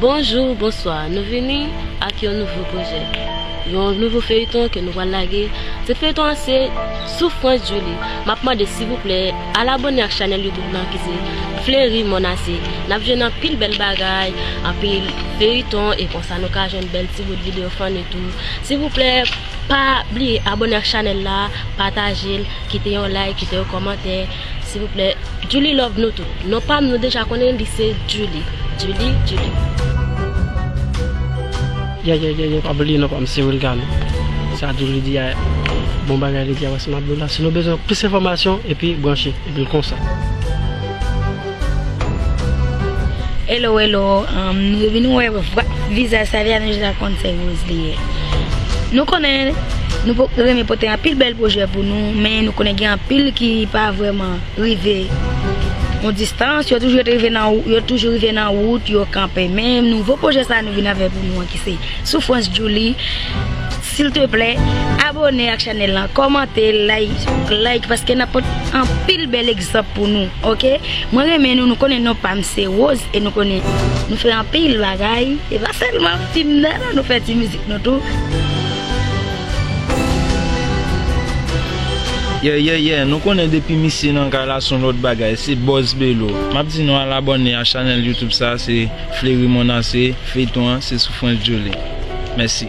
Bonjou, bonswa, nou vini ak yon nouvo pwojè, yon nouvo feyiton ke nou pral lage, tit feyiton an se Sou Frantz Djouly, map mande sivouplè al abone ak chanèl youtube lan ki se Fleury Monase, nap jwenn anpil bèl bagay, anpil feyiton e konsa nou ka jwenn bèl ti bout video funny tou, sivouplè pa bliye abone ak chanèl la, patajel, kite yon like, kite yon kòmantè. Silvouplè Djoulie love nou tout non pam nou deja konnen li se Djoulie Djoulie Djoulie. Yayayayay pa bliye non pam se wilgane sa djoulie di a bon bagay li di a wè se map diw la si nou bezwen plis enfòmasyon epi branche epil konsa. Hello hello Nou vin wè vizaj Saviane J la konn se rose li ye Nou konnen nou renmen pote anpil bèl pwojè pou nou men nou konnen gen anpil ki pa vrèman rive yon distans yo toujou te rive nan yo toujou rive nan wout yo kanpe men nouvo pwojè sa nou vin avèk pou nou an ki se soufrans Djoulie silteplè abone ak chanèl lan kòmante like paske nap pote anpil bèl Stop pou nou ok mwen renmen nou nou konnen non pam se rose e nou konnen nou fè anpil bagay e pa sèlman fim nan nou fè ti mizik nou tou. Yeah yeah yeah nou konnen depi misye nan kay la son lòt bagay se bòz belo map di nou al abòne a chanèl youtube sa se fleri monase feyton an se soufrans joli mèsi.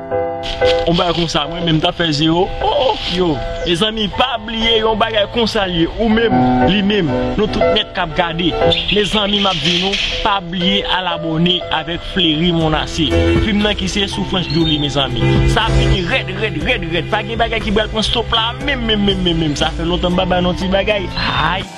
Yon bagay konsa mwen menm tap fè zero ooh yo Mezanmi pa bliye yon bagay konsa l ye ou menm li menm nou tout nèt kap gade Mezanmi map di nou pa bliye al abòne avèk Flery Monasse fim nan ki se Soufrans Jolie Mezanmi sa ap vini rèd rèd rèd rèd pa gen bagay ki pral pran stop la menm menm menm menm sa fè lontan m pa bay nou ti bagay aayy.